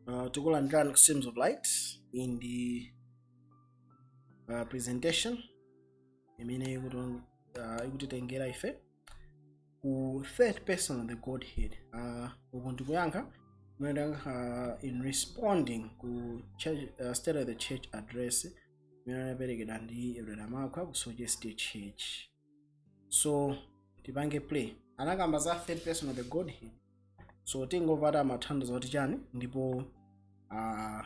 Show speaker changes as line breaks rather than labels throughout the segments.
Uh, tikulandirani ku streams of light iyi ndi uh, presentation imene ikuti- uh, ikutitengera ife ku third person of the godhead uh, uku ndikuyankha kumene uh, in responding ku church, uh, state of the church address imene inaperekedwa ndi elder makwa ku soche state church so tipange play anakamba za third person of the godhead so tingopata mathandizo kuti chani ndipo uh,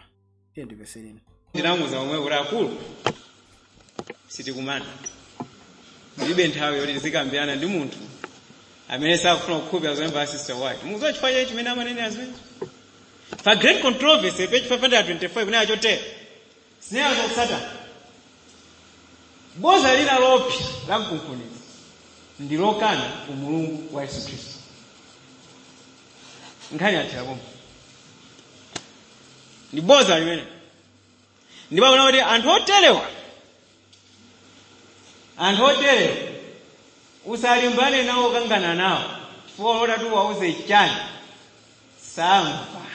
tiyeni tipenyereni ndinamuuza zomwe kuti
akulu sitikumana ndilibe nthawi yoti tizikambirana ndi munthu amene sakufuna kukhulupirira zolemba za sister white mukuziwa chifukwa chake chimene amanenera zimene pa great controversy page 525 akunena chotero Akunena zotsata boza lina lopsa la mkunkhuniza ndi lokana umulungu wa yesu khristu nkhani yathera pomwe ndi boza limene ndipo akunena kuti anthu oterewa anthu oterewa usalimbane nawo kangana nawo chifukwa olo utati uwauze chani samva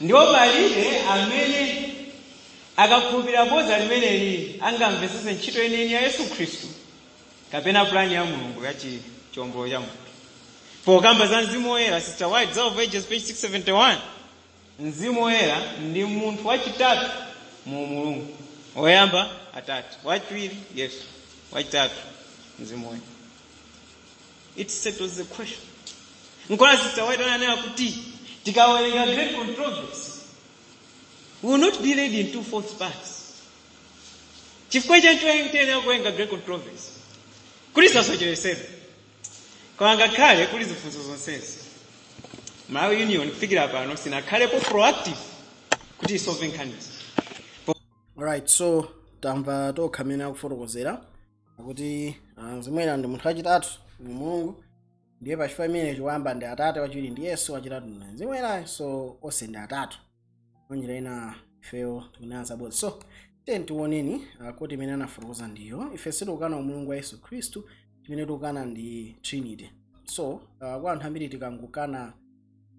ndipo palibe amene akakhulupirira bodza limeneli angamvetsetse ntchito yeniyeni ya yesu khristu kapena pulani ya mulungu ya chi- chiwombolo cha munthu pokamba za mzimu woyera sister white desire of ages page 671 Mzimu Woyera ndi munthu wachitatu mu umulungu. Woyamba Atate, wachiwiri Yesu, wachitatu Mzimu Woyera. It settles the question. Nkona Sister White ananena kuti tikawerenga great controversy we will not be led into false paths. Chifukwa chancho tiyenera kuwerenga great controversy kuti tisasocheresedwe. koma ngakhale kuli zifunso zonsezi malawi union kufikira pano sinakhalepo proactive kuti isolve nkhanizi alright
so tamva tokha mmene akufotokozera akuti ah, mzimu woyera ndi munthu wachitatu mu umulungu ndiye pachifukwa chimenecho woyamba ndi atate wachiwiri ndi yesu wachitatu ndi mzimu woyera so onse ndi atatu mwanjira ina ifeyo tikunena zabodza so tiyeni tiwoneni uh, quote imene anafotokoza ndiyo ife sitikukana umulungu wa yesu khristu chimene tikukana ndi trinity so uh, kwa anthu ambiri tikangokana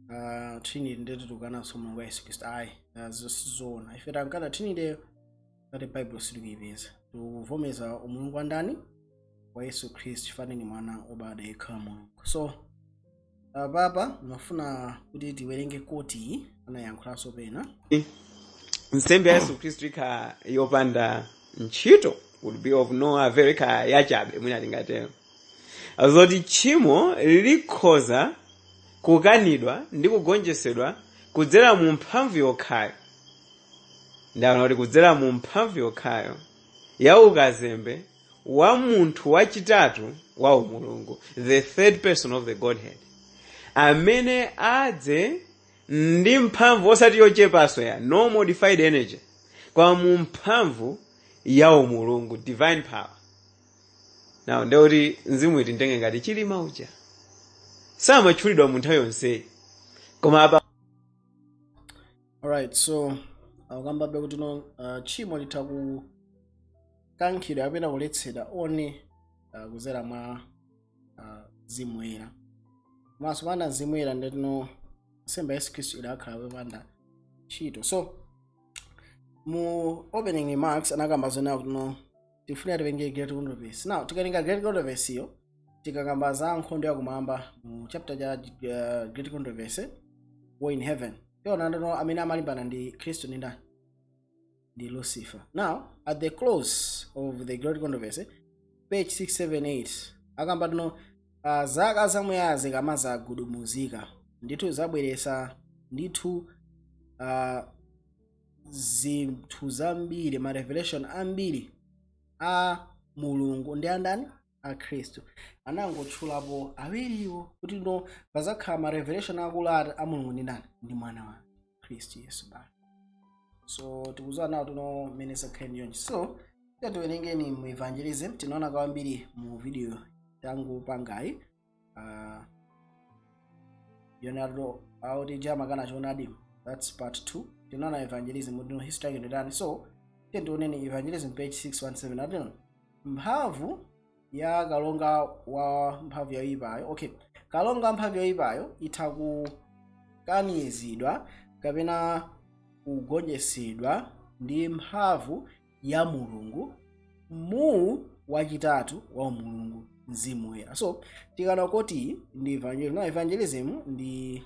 uh, trinity ndeti tikukananso umulungu wa yesu khristu ayi uh, izo sizoona ife tikukana trinity chifukwa mu bible sitikuyipeza tikuvomeza umulungu wa ndani wa yesu khristu chifukwa ni mwana obadwa yekha wa mulungu so apapa ndimafuna kuti tiwerenge quote iyi anayiyankhulanso
pena nsembe ya yesu khristu ikhala yopanda ntchito would be of no avail ikhala yachabe mwina tingatero zoti tchimo likhoza kukanidwa ndi kugonjetsedwa kudzera mu mphamvu yokhayo mwaona kuti kudzera mu mphamvu yokhayo ya ukazembe wa munthu wachitatu wa umulungu the third person of the godhead amene adze ndi mphamvu osati yochepanso ya no modified energy koma mu mphamvu ya umulungu divine power now nde kuti mzimu tiutenge ngati chilima uja samatchulidwa mu nthawi yonseyi koma apa alright
so akukambabe kuti no uh, tchimo litha ku kukankhidwa kapena kuletsedwa one uh, kuzera mwa uh, mzimu woyera komanso panda mzimu woyera nde kuti no nsembe ya yesu khristu idakhala popanda ntchito so mu opening remarks anakamba zonena kuti no tifunika tiwerenge great controversy now tikatenga great controversy yo tikakamba za nkhondo yakumwamba mu chapter cha uh, great controversy war in heaven tiona kuti no amene amalimbana ndi khristu ndi ndani ndi lucifer now at the close of the great controversy page 678 akamba kuti no uh, zaka zamuyaya zikamazagudumuzika ndithu zabweretsa ndithu uh, zinthu zambiri ma revelation ambiri a mulungu ndi andani a khristu anangotchulapo awiriwo kuti no pazakhala ma revelation akulu ati a mulungu ndi ndani ndi mwana wake khristu yesu basi so tikuziwa now kuti no mmene zakhala ndi chonchi so tiwerengeni mu evangelism tinaona kwambiri mu video tangopangayi uh, leonardo wauchidyamakanda choonadi that's part 2 tinaona evangelism kuti no history yake ndi yotani so tiyeni tioneni evangelism page 617 akuti no mphamvu ya kalonga wa mphamvu yoyipayo okay kalonga wa mphamvu yoyipayo itha kukanizidwa kapena kugonjetsedwa ndi mphamvu ya mulungu mu wachitatu wa umulungu mzimu woyera so tikanena kuti ndi evangelism no evangelism ndi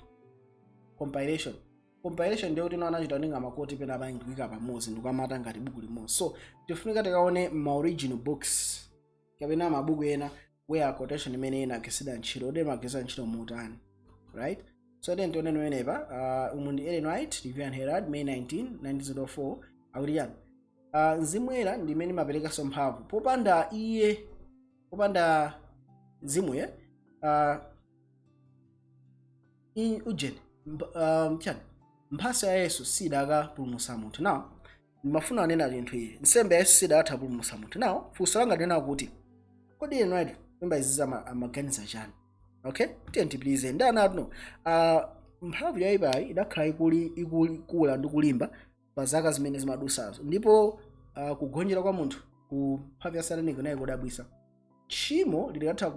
compilation compilation ndiye kuti ena anachita kutenga ma quote pena pake kuika pamodzi ndikuamata ngati buku limodzi so tifunika tikaone ma original books kapena mabuku ena where a quotation imene inagwiritsidwa ntchito kuti imagwiritsa ntchito motani right so then tione nonenepa uh, umu ndi ellen white review and herald may 19 1904 akuti chani uh, mzimu woyera ndi umene umaperekanso mphamvu popanda iye popanda mzimuye uh, i- ujeni mp- um, chani mphatso ya yesu sikadapulumutsa munthu now ndimafuna anena chinthu ichi nsembe ya yesu sidakatha kupulumutsa munthu now funso langa ndinena kuti kodi inu ati memba izizi ama- amaganiza chani okay tiye tipitilize ndi ana atuno uh, mphamvu yoyipayi idakhala ikuli ikuli kula ndi kulimba pa zaka zimene zimadutsazo ndipo uh, kugonjera kwa munthu ku mphamvu ya satana nayo kudabwitsa tchimo lidakatha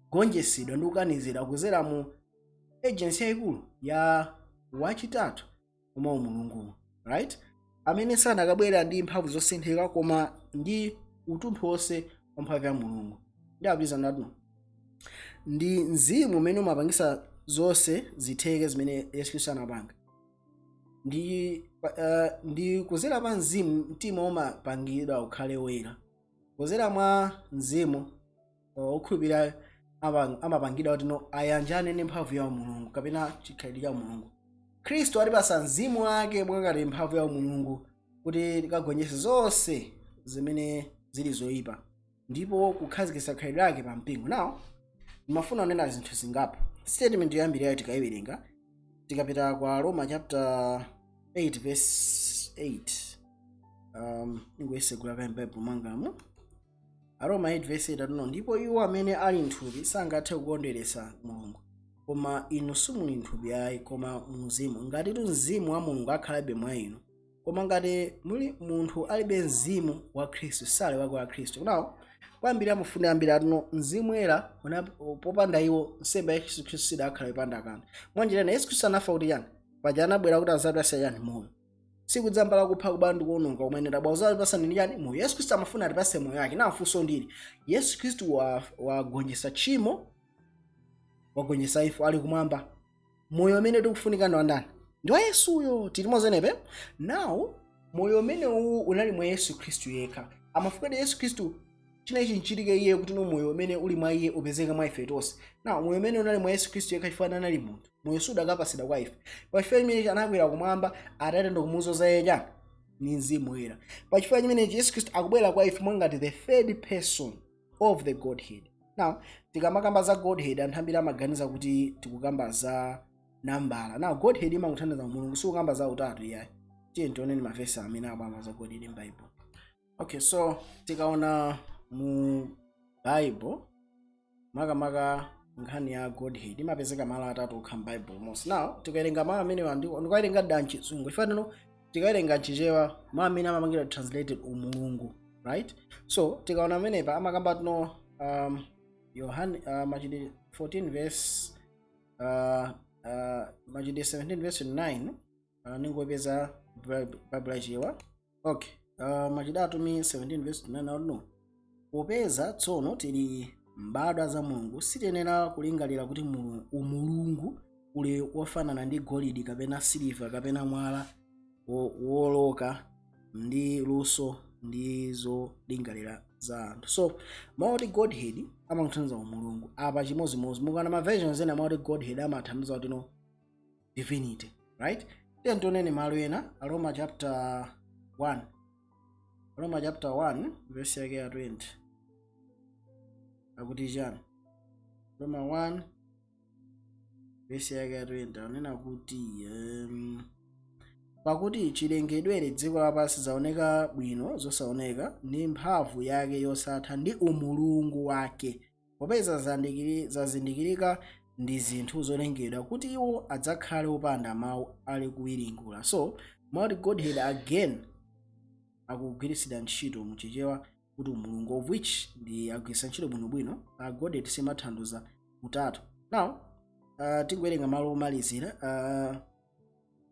kugonjetsedwa ndi kukanizidwa kudzera mu agency yayikulu ya wachitatu mwa umulungu right amene sanakabwera ndi mphamvu zosinthika koma ndi utunthu wonse wa mphamvu ya mulungu ndipitiliza atuno ndi mzimu umene umapangitsa zonse zitheke zimene yesu khristu anapanga ndi, uh, ndi kudzera pa mzimu mtima umapangidwa ukhale woyera kudzera mwa mzimu uh, okhulupirira amapang- amapangidwa kuti no ayanjane ndi mphamvu ya mulungu kapena chikhalidwe cha mulungu khristu watipatsa mzimu wake mwa ngati mphamvu ya mulungu kuti tikagonjetse zonse zimene zili zoyipa ndipo kukhazikitsa khalidwe lake pa mpingo now ndimafuna kunena zinthu zingapo statement yoyambirira tikayiwerenga tikapita kwa aroma chapter 8 verse 8 um, ndingotsegula kaye m'baibulo mwangamu aroma 8 verse 8 atuno ndipo iwo amene ali nthupi sangathe kukondweretsa mulungu koma inu simuli nthupi ayi koma mumzimu ngatitu mzimu wa mulungu akhalabe mwa inu koma ngati muli munthu alibe mzimu wa khristu sali wake wa khristu now kwambiri amafuna ambiri atuno mzimu woyera una- popanda iwo nsembe ya yesu khristu sidakhala yopanda kanthu mwanjirana yesu khristu anafa kuti chani paja anabwera kuti azatipatse chani moyo siikudza mbala kupha kuba ndi kuononga koma ine ndabwera kuzakupatsani ndi chani moyo yesu khristu amafuna atipatse moyo wake now funso ndili yesu khristu wa- wagonjetsa tchimo wagonjetsa imfa ali kumwamba moyo umene tikufunika ndi wandani ndi wa yesuyo tili mozenepe now moyo umene uwu unali mwa yesu khristu yekha amafuna kuti yesu khristu china ichi chichitike iye kuti no moyo umene uli mwa iye upezeke mwa ife tonse now moyo umene unali mwa yesu khristu yekha chifukwa anali munthu moyo sudakapatsidwa kwa ife pa chifukwa chimenechi anakwera kumwamba atate ndikumuzoza iye chani ndi mzimu woyera pa chifukwa chimenechi yesu khristu akubwera kwa ife mwangati the third person of the godhead now tikamakamba za godhead anthu ambiri amaganiza kuti tikukamba za nambala now godhead imangotanthauza mulungu sikukamba za utatu iyayi tiye tioneni mavesi amene akamba za godhead m'baibulo okay so tikaona mu bible makamaka nkhani ya godhead imapezeka malo atatu okha m'baibulo monse now tikawerenga mawu amenewa ndi- ndikuwawerenga da mchizungu chifukwa no tikawerenga mchichewa mawu amene amapangidwa translated umulungu right so tikaona amenepa amakamba kuti no um, yohane uh, machitidwe 14 verse uh, uh, machitidwe 17 verse 9 uh, ndingopeza bible yachichewa okay uh, machitidwe atumwi 17 verse 9 akuti no popeza tsono tili mbadwa za mulungu sitiyenera kulingalira kuti mulu- umulungu uli wofanana ndi golidi kapena siliva kapena mwala wo- woloka ndi luso ndi zolingalira za anthu so mawu oti godhead amatanthauza umulungu apa chimodzimodzi mukaona ma versions ena mawu oti godhead amatanthauza kuti no divinity right then tioneni malo ena aroma chapter 1 aroma chapter 1 verse yake ya 20 akuti chani roma 1 verse yake ya 20 anena kuti um, pakuti chilengedwere dziko lapansi zaoneka bwino zosaoneka ndi mphamvu yake yosatha ndi umulungu wake popeza zazindikiri- zazindikirika ndi zinthu zolengedwa kuti iwo adzakhale opanda mawu akuwiringula so mawu oti godhead again akugwiritsidwa ntchito mu chichewa kuti umulungu of which ndi agwiritsa ntchito bwinobwino uh, godhead simatanthauza utatu now uh, tikuwerenga malo omalizira uh,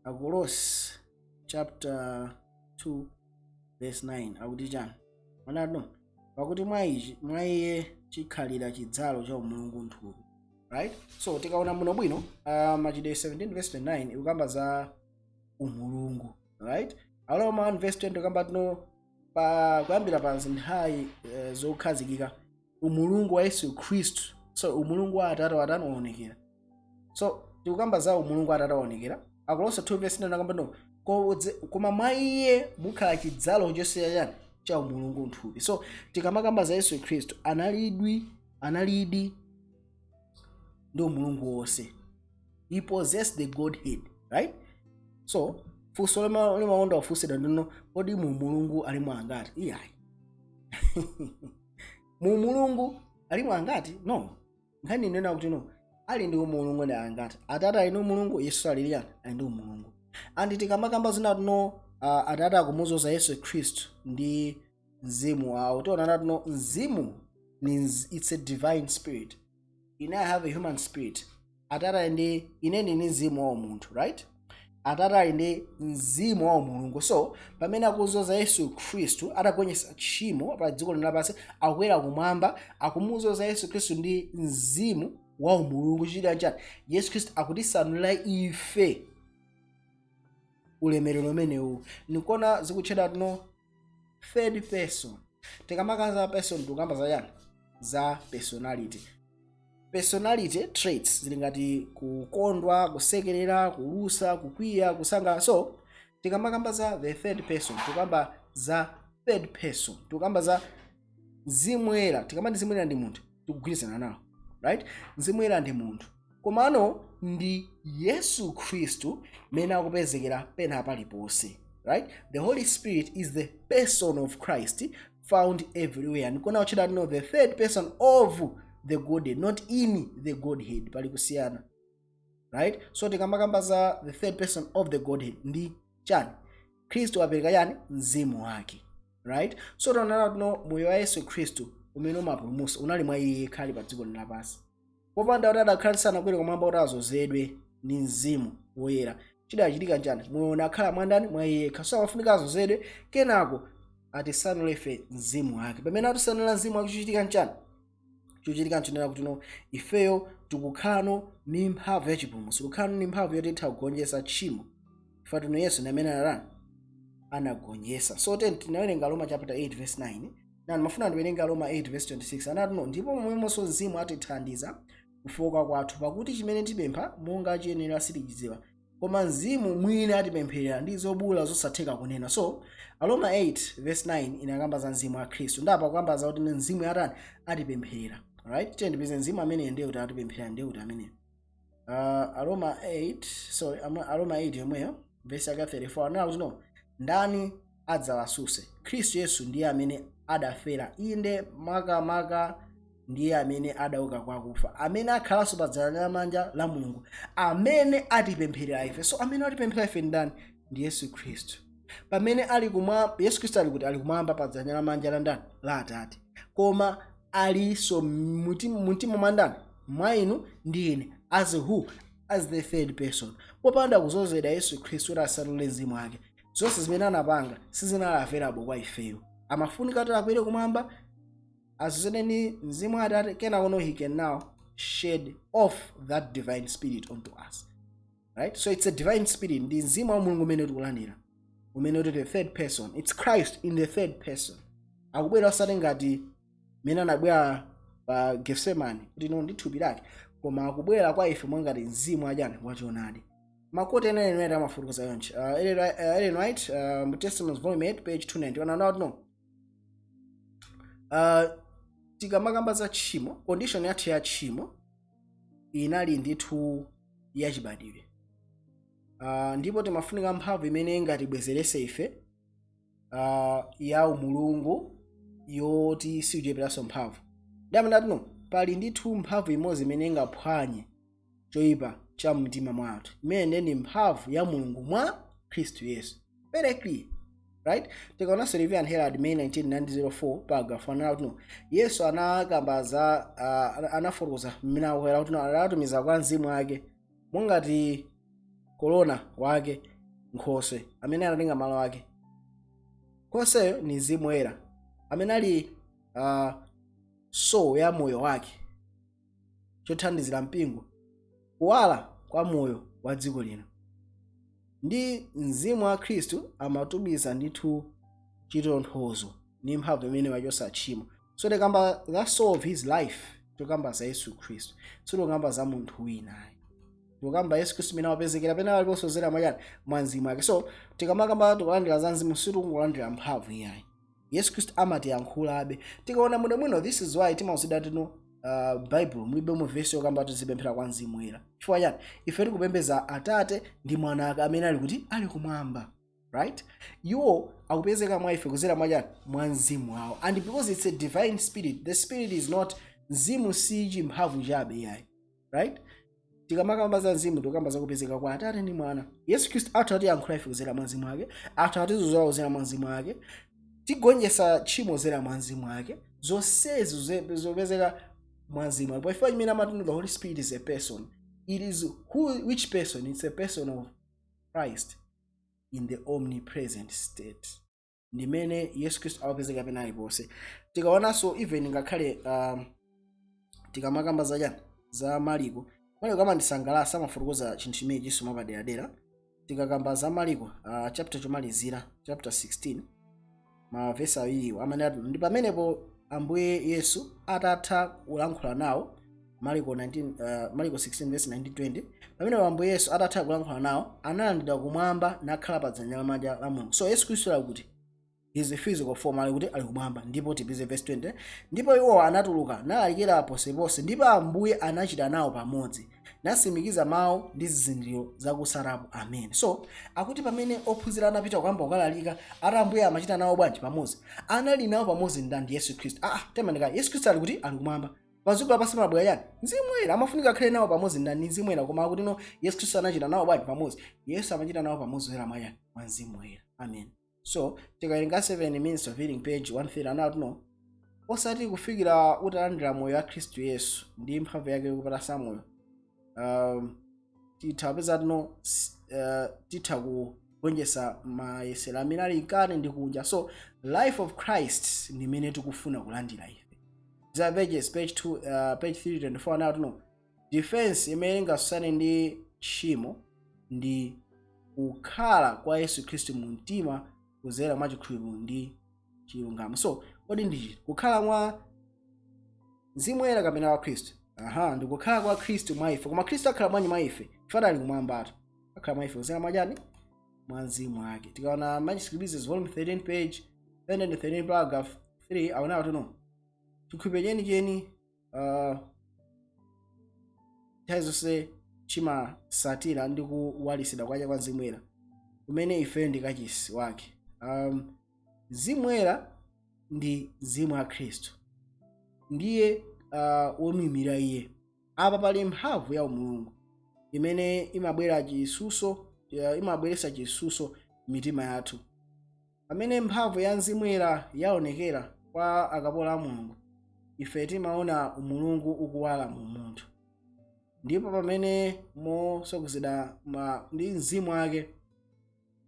akolose chapter 2 verse 9 akuti chani onatu pakuti mwa ichi mwa iye chikhalira chidzalo cha umulungu m'thupi right so tikaona muno bwino uh, machitidwe 17 verse 29 ikukamba za umulungu right aroma 1 verse 20 ikukamba kuti no pa kuyambira pa nthawi uh, zokhazikika umulungu wa yesu khristu so umulungu wa atate watani waonekera so tikukamba za umulungu wa atate waonekera akolose 2 verse 9 akamba no "Kodze- koma mwa iye mukhala chidzalo chonse cha chani cha umulungu mthupi so tikamakamba za yesu khristu analidwi analidi ndi umulungu wonse he possessed the godhead right so funso lima- limakonda kufunsidwa ndi no kodi mu mulungu alimo angati iyayi mu mulungu alimo angati no nkhani ikunena kuti no ali ndi umulungu ndi angati atate ali ndi umulungu yesu ali liyani ali ndi umulungu and tikamakamba zonena kuti no uh, atate akumuzoza yesu khristu ndi mzimu wawo tiona nati no mzimu ni mz- it's a divine spirit ine i have a human spirit atate ali ndi ine ndili ndi mzimu wa umunthu right atate ali ndi mzimu wa umulungu so pamene akuzoza yesu khristu atagonjetsa tchimo pa dziko lino lapansi akukwera kumwamba akumuzoza yesu khristu ndi mzimu wa umulungu chichitika chani yesu khristu akutisanulira ife ulemerero umenewu ndi kuona zikutchedwa kuti no third person tikamaka za person tikukamba za yani za personality personality traits zili ngati kukondwa kusekerera kulusa kukwiya kusangalala so tikamakamba za the third person tikukamba za third person tikukamba za zimwera tikamati zimwera ndi munthu tikugwirizana nawo right mzimu woyera ndi munthu komano ndi yesu khristu amene akupezekera pena paliponse right the holy spirit is the person of christ found everywhere ndi kuona akutchedwa kuti no the third person of the godhead not in the godhead pali kusiyana right so tikamakamba za the third person of the godhead ndi chani khristu wapereka chani mzimu wake right so taonana kuti no moyo wa yesu khristu umene umapulumutsa unali mwa iye yekha ali pa dziko lino lapansi popanda kuti adakhala sanakwere kumwamba kuti azozedwe ndi mzimu woyera chikadachitika chani moyo unakakhala mwandani mwa iye yekha so amafunika azozedwe kenako atisanulire ife mzimu wake pamene atisanula mzimu wake chochitika nchani chochitika nchonena kuti no ifeyo tikukhalano ni mphamvu ya chipulumutso tikukhalano ni mphamvu yoti titha kugonjetsa tchimo ife kuti no yesu ni amene anatani anagonjetsa so then tinawerenga roma chapter 8 verse 9 nde ndimafuna ndiwerenge roma 8 verse 26 anati no ndipo momwemonso mzimu atithandiza kufooka kwathu pakuti chimene tipempha monga chiyenera sitichidziwa koma mzimu mwini atipempherera ndi zobuula zosatheka kunena so aroma 8 verse 9 inakamba za mzimu wa khristu nde apa akukamba za kuti mzimu atani atipempherera right tiyeni tipeze mzimu ameneyo ndi uti atipempherera nde uti ameneyo uh, aroma 8 sorry Ama- aroma 8 yomweyo verse yake 34 anena kuti no ndani adzawatsutse. Khristu Yesu ndiye amene adafera, inde makamaka ndiye amene adauka kwa akufa, amene akhalanso pa dzanja lamanja la Mulungu, amene atipempherera ife. So amene atipempherera ife ndi ndani? Ndi Yesu Khristu. Pamene ali kumwa Yesu Khristu ali kuti ali kumwamba pa dzanja lamanja la ndani? La Atate. Koma alinso mmutima mumtima mwa ndani? Mwa inu ndi ine. As who? As the third person. Popanda kuzozedwa Yesu Khristu kuti atsanule mzimu wake. zonse zimene anapanga sizinali available kwa ifeyo amafunika kuti akwere kumwamba azozedwe ndi mzimu wa atate kenakono he can now shed off that divine spirit onto us right so it's a divine spirit ndi mzimu wa mulungu umene tikulandira umene uli the third person it's christ in the third person akubwera osati ngati mmene anabwera pa gethsemane kuti no ndi thupi lake koma akubwera kwa ife mwangati mzimu wachani wachonadi makuti ena ena ena amafutukuza yonchi uh, Ellen Wright- uh, Ellen White uh, mu Testimonies volume 8 page 290 ananena kuti no uh, tikamakamba za tchimo condition yathu ya tchimo inali ndithu yachibadwidwe uh, ndipo timafunika mphamvu imene ingatibwezerese ife uh, ya umulungu yoti siucheperanso mphamvu ndamene ati no pali ndithu mphamvu imodzi imene ingaphwanye choyipa cha mtima mwa anthu imene ndi mphamvu ya mulungu mwa khristu yesu very clear right tikaonanso review and herald may 1904 paragraph 1 anati no yesu anakamba za uh, anafotokoza mmene akukwera kuti no anatumiza kwa mzimu wake mongati korona wake nkhoswe amene anatenga malo ake nkhosweyo ni mzimu woyera amene ali uh, soul ya moyo wake chothandizira mpingo kuwala kwa moyo wa dziko lino ndi mzimu wa khristu amatumiza ndithu chitonthozo ndi mphamvu imene wachotsa tchimo so tikamba the soul of his life tikamba za yesu khristu sitikukamba za munthu winayo tikukamba yesu khristu imene wapezekera pena aliponse kuzera mwa chani mwa mzimu wake so tikamakamba tikulandira za mzimu sitikungolandira mphamvu iyayi yesu khristu amatiyankhulabe tikaona bwinobwino this is why timauzidwa kuti no uh, bible mulibe mu vesi yokamba tizipemphera kwa mzimu woyera chifukwa chani ife tikupembeza atate ndi mwana ake amene ali kuti ali kumwamba right iwo akupezeka mwa ife kuzera mwa chani mwa mzimu wawo and because it's a divine spirit the spirit is not mzimu si chimphamvu chabe iyayi right tikamakamba za mzimu tikukamba za kupezeka kwa atate ndi mwana yesu khristu atha kutiyankhula ife kuzera mwa mzimu wake atha kutizuzula kuzera mwa mzimu wake tigonjetsa tchimo kuzera mwa mzimu wake zonsezi ze- zopezeka mwa mzimu wake pachifukwa chimene amati no the holy spirit is a person it is who, which person it's a person of christ in the omnipresent state ndi mmene yesu khristu akupezeka pena aliponse tikaonanso even ngakhale um, tikamakamba za chani za maliko maliko amandisangalatsa amafotokoza chinthu chimenechinso mwapaderadera tikakamba za maliko uh, chapter chomalizira chapter 16 mavesi awiriwo amanena ndi pamenepo ambuye yesu atatha kulankhula nawo mariko 19, uh, mariko 16 verse 19 20 pamene ambuye yesu atatha kulankhula nawo analandidwa kumwamba nakhala pa dzanja lamanja la mulungu so yesu khristu ali kuti his physical form ali kuti ali kumwamba ndipo tipeze verse 20 ndipo iwo anatuluka nalalikira ponseponse ndipo ambuye anachita nawo pamodzi nasimikiza mawu ndi zizindikiro zakutsatapo amen so akuti pamene ophunzira anapita kukamba kukalalika ati ambuye amachita nawo bwanji pamodzi anali nawo pamodzi ndani yesu khristu ah, ah, temanika yesu khristu ali kuti ali kumwamba padziko lapansi pabwera chani mzimu woyera amafunika akhale nawo pamodzi ndani ndi mzimu woyera koma akuti no yesu khristu anachita nawo bwanji pamodzi yesu amachita nawo pamodzi kuzera mwa chani mwa mzimu woyera amen so tikawerenga ministry of healing page 130 anati no osati kufikira utalandira moyo wa khristu yesu ndi mphamvu yake yokupatsa moyo um, titha kupeza kuti no uh, titha kugonjetsa mayesero amene ali mkati ndi kunja so life of christ ndi imene tikufuna kulandira ife desire of ages page 2 uh, page 324 anati no defense imene ingasusane ndi tchimo ndi kukhala kwa yesu khristu mu mtima kuzera mwa chikhulupiriro ndi chilungamo so kodi ndi chiti kukhala mwa mzimu woyera kapena kwa khristu aha ndikukhala kwa khristu mwa ife koma khristu akhala bwanji mwa ife chifukwa ali kumwambatu akhala mwa ife kuzera mwachani mwa mzimu wake tikaona manuscript releases volume 13 page 313 paragraph 3 anena kuti no chikhulupiriro chenicheni uh, nthawi zonse chimasatira ndi kuwalisidwa kwacha kwa mzimu woyera kumene ifeyo ndi kachisi wake um, mzimu woyera ndi mzimu wa khristu ndiye uh, womuimira iye apa pali mphamvu ya umulungu imene imabwera chisuso uh, imabweretsa chisuso mitima yathu Pamene mphamvu ya Mzimu Woyera yaonekera kwa akapolo a Mulungu, ife timaona umulungu ukuwala mu munthu. Ndipo pamene mosogozedwa ma- ndi mzimu wake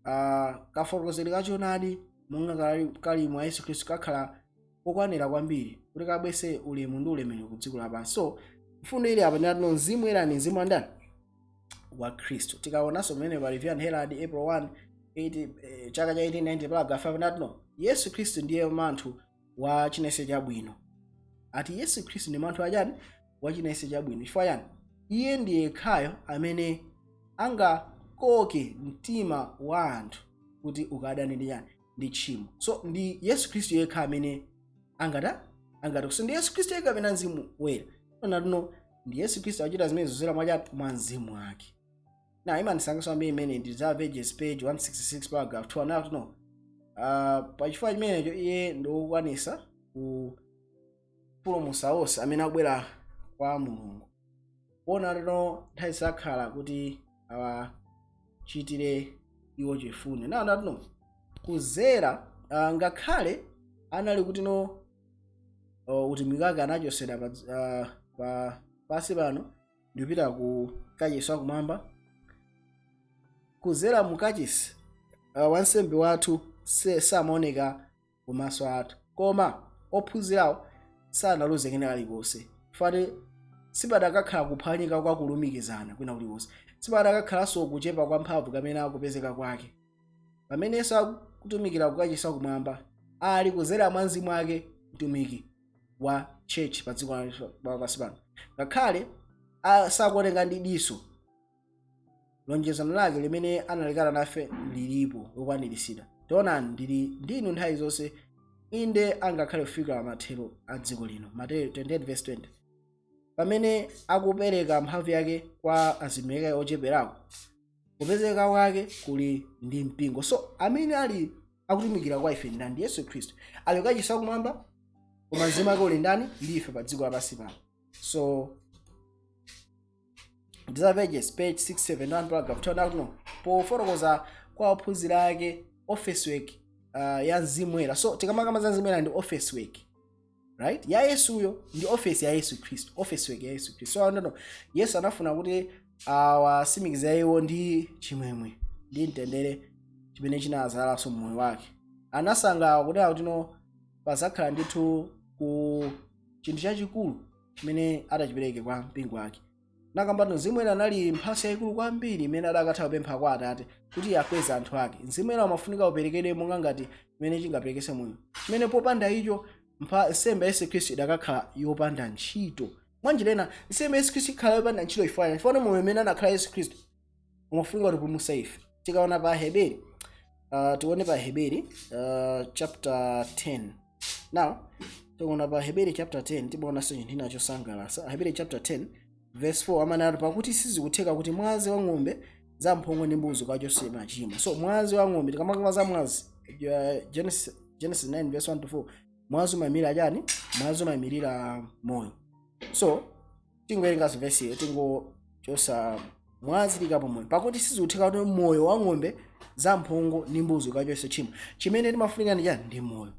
ah, kafotokozedwe ka choonadi monga kali- kali mwa Yesu Khristu kakhala kokwanira kwambiri kuti kabwese ulemu ndi ulemerero ku dziko lapansi. So mfundo ili apa ndi yakuti no mzimu Woyera ndi mzimu wa ndani? wa khristu tikaonanso pamene pa review and herald april 1 80, eh, chaka cha 1890 paragraph 5 anati no yesu khristu ndiye manthu wa china chilichonse chabwino ati yesu khristu ndi manthu wa chani wa china chilichonse chabwino chifukwa chani iye ndi yekhayo amene angakoke mtima wa anthu kuti ukadane ndi chani ndi tchimo so ndi yesu khristu yekha amene angata angata so ndi yesu khristu yekha kapena mzimu woyera anati no ndi yesu khristu akuchita zimenezo kuzera mwachani mwa mzimu wake na imandisangalatsa kwambiri imene ndi desire of ages page 166 paragraph 2 anati no uh, pachifukwa chimenecho iye ndiwokwanisa kupulumusa onse amene akubwera kwa mulungu kuona kuti no nthawi zonse akhala kuti awachitire iwo chifundo na anati no kuzera uh, ngakhale anali kuti no o, utumiki wake anachosedwa pa, dz- ah, pa pasi pano ndikupita ku kachisi wakumwamba kuzera mu kachisi ah, wansembe wathu se- samaoneka kumaso athu koma ophunzirawo sanaluze kena kalikonse fati sipadakakhala kuphwanyika kwa kulumikizana kwina kulikonse sipadakakhalanso kuchepa kwa mphamvu kapena kupezeka kwake pamene yesu akutumikira kukachisi wakumwamba ali kuzera mwa mzimu wake mtumiki wa church pa dziko lapansi pano ngakhale a- sakuoneka ndi diso lonjezano lake limene analikana nafe lilipo lokwanirisidwa taonani ndili ndinu nthawi zonse inde angakhale kufika mathero a dziko lino mateyu 28:20 pamene akupereka mphamvu yake kwa atumiki ake ocheperako kupezeka kwake kuli ndi mpingo so amene ali akutumikira kwa ife ndani ndi yesu khristu ali kukachisi wakumwamba koma mzimu wake uli ndani ndi ife pa dziko lapansi pano so desire of ages page 671 paragraph 2 akuti no pofotokoza kwa ophunzira ake office work uh, ya mzimu woyera so tikamakamba za mzimu woyera ndi office work right ya yesuyo ndi ofesi ya yesu khristu office work ya yesu khristu so akuti no yesu anafuna kuti awasimikize iwo ndi chimwemwe ndi mtendere chimene chinadzadzanso mmoyo wake anasangalala kuti akuti no pazakhala ndithu ku chinthu chachikulu chimene atadzachipereke kwa mpingo wake nakambano mzimu woyera anali mphatso yayikulu kwambiri imene adakatha kupempha kwa atate kuti akweze anthu ake mzimu woyera umafunika uperekedwe monga ngati chimene chingaperekese moyo chimene popanda icho mpha- nsembe ya yesu khristu idakakhala yopanda ntchito mwanjira ina nsembe ya yesu khristu ikhala yopanda ntchito chifukwa chani? chifukwa moyo umene anakhala yesu khristu umafunika utipulumutse ife tikaona pa aheberi uh, tione pa aheberi uh, chapter 10 now tikaona pa aheberi chapter 10 timaonanso chinthu china chosangalatsa aheberi chapter 10 verse 4 amanati pakuti sizikutheka kuti mwazi wa ng'ombe za mphongo ndi mbuzi ukachotse machimo so mwazi wa ng'ombe tikamakamba za mwazi uh, genesis, genesis 9 verse 1 to 4 mwazi umayimirira chani mwazi umayimirira moyo so tingowerenga vesiyo tingochosa mwazi tiikapo moyo pakuti sizikutheka kuti moyo wa ng'ombe za mphongo ndi mbuzi ukachotse tchimo chimene timafunika ndi chani ndi moyo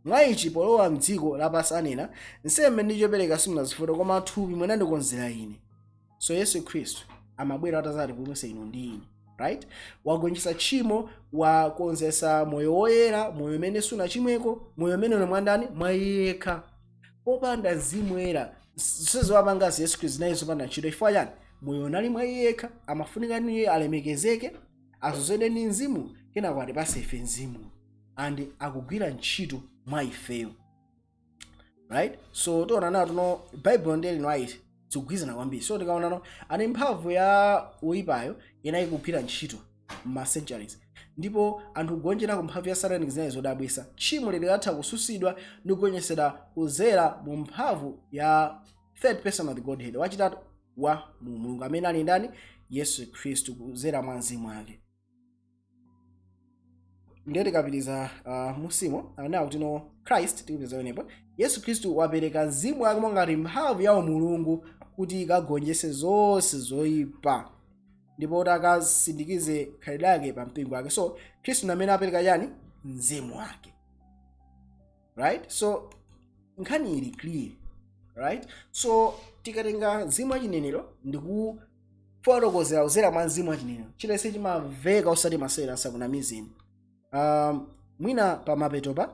mwa ichi polowa mdziko lapansi anena nsembe ndi chopereka simunazifuna koma thupi munandikonzera ine so yesu khristu amabwera atazatipulumutsa inu ndi ine right wagonjetsa tchimo wakonzesa moyo woyera moyo umene sunachimweko moyo umene uli mwandani mwa iye yekha popanda mzimu woyera zonse wapangazi yesu khristu zinali zopanda ntchito chifukwa chani moyo unali mwa iye yekha amafunika kuti iye alemekezeke azozedwe ndi mzimu kenako atipase ife mzimu and akugwira ntchito mwa ifeyo right so tiona nawo kuti no baibulo ndiye ellen white zikugwirizana kwambiri so tikaonano apa mphamvu ya woyipayo inali kugwira ntchito ma centuries ndipo anthu kugonjera ku mphamvu ya satanic zinali zodabwisa tchimo likatha kususidwa ndi kugonjesedwa kuzera mu mphamvu ya third person of the godhead wachitatu wa umulungu amene ali ndani yesu khristu kuzera mwa mzimu wake ndiye tikapitiriza uh, mumzimu anawo kuti no christ tikupitiriza panopa yesu khristu wapereka mzimu wake mongati mphamvu ya umulungu kuti ikagonjetse zonse zoyipa ndipo kuti akasindikize khalidwe lake pa mpingo wake so khristu namene apereka chani mzimu wake right so nkhani ili clear right so tikatenga mzimu wa chinenero ndi kufotokozera kuzera mwa mzimu wa chinenero chilichonse chimaveka osati masewera asakunamizeni um, mwina pamapetopa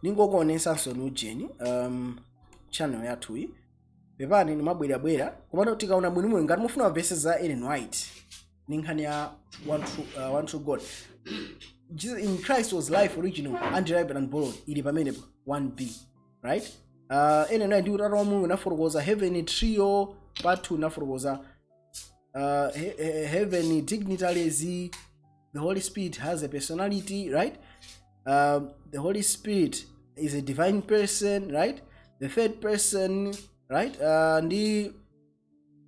ndingokuonesanso ni ujeni um, channel yathuyi pepani ndimabwerabwera komano tikaona bwinobwino ngati mufuna ma verse za ellen white ndi nkhani ya one true, uh, one true god Jesus, in christ was life original underiven and borrowed ili pamenepo 1b right uh, ene naye ndi utata wa mulungu inafotokoza heaven trio part 2 inafotokoza uh, he, he, heaven dignitaries the holy spirit has a personality right um, the holy spirit is a divine person right the third person right uh, ndi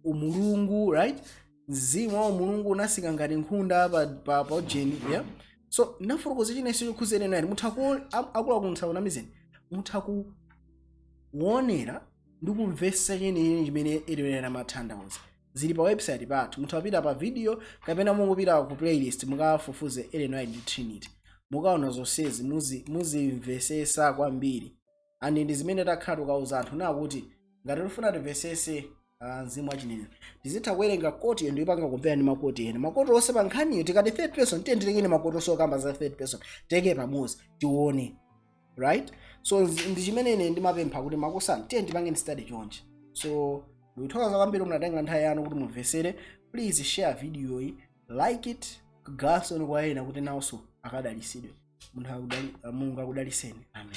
umulungu right mzimu wa umulungu unasika ngati nkhunda pa, pa, pa ujeni yeah? so nafotokoza chinanso chokhuzana nayo mutha akuluakulu asakunamizeni mutha kuonera ndi kumvesa chenene chimene ellen white amathandauza zili pa website pathu mutha kupita pa video kapena mungopita ku playlist mukafufuze ellen white ndi trinity mukaona zonsezi muzi- muzimvesesa kwambiri and ndi zimene takhala tikauza anthu no kuti ngati tifuna timvesese ah, mzimu wa chinenero tizitha kuwerenga koti ena nkupanga compare ndi makoti ena makoti onse pa nkhaniyo tikati third person tiye titekeni makoti onse okamba za third person tiike pamodzi tione right so nzi- ndi chimene ine ndimapempha kuti makosana tiye tipangeni study chonchi so ndikuthokoza kwambiri munatenga nthawi yanu kuti mumvesere please share video yi like it kugawanso kwa ena kuti nawonso akadalisidwe munthu akudali- mulungu akudaliseni amen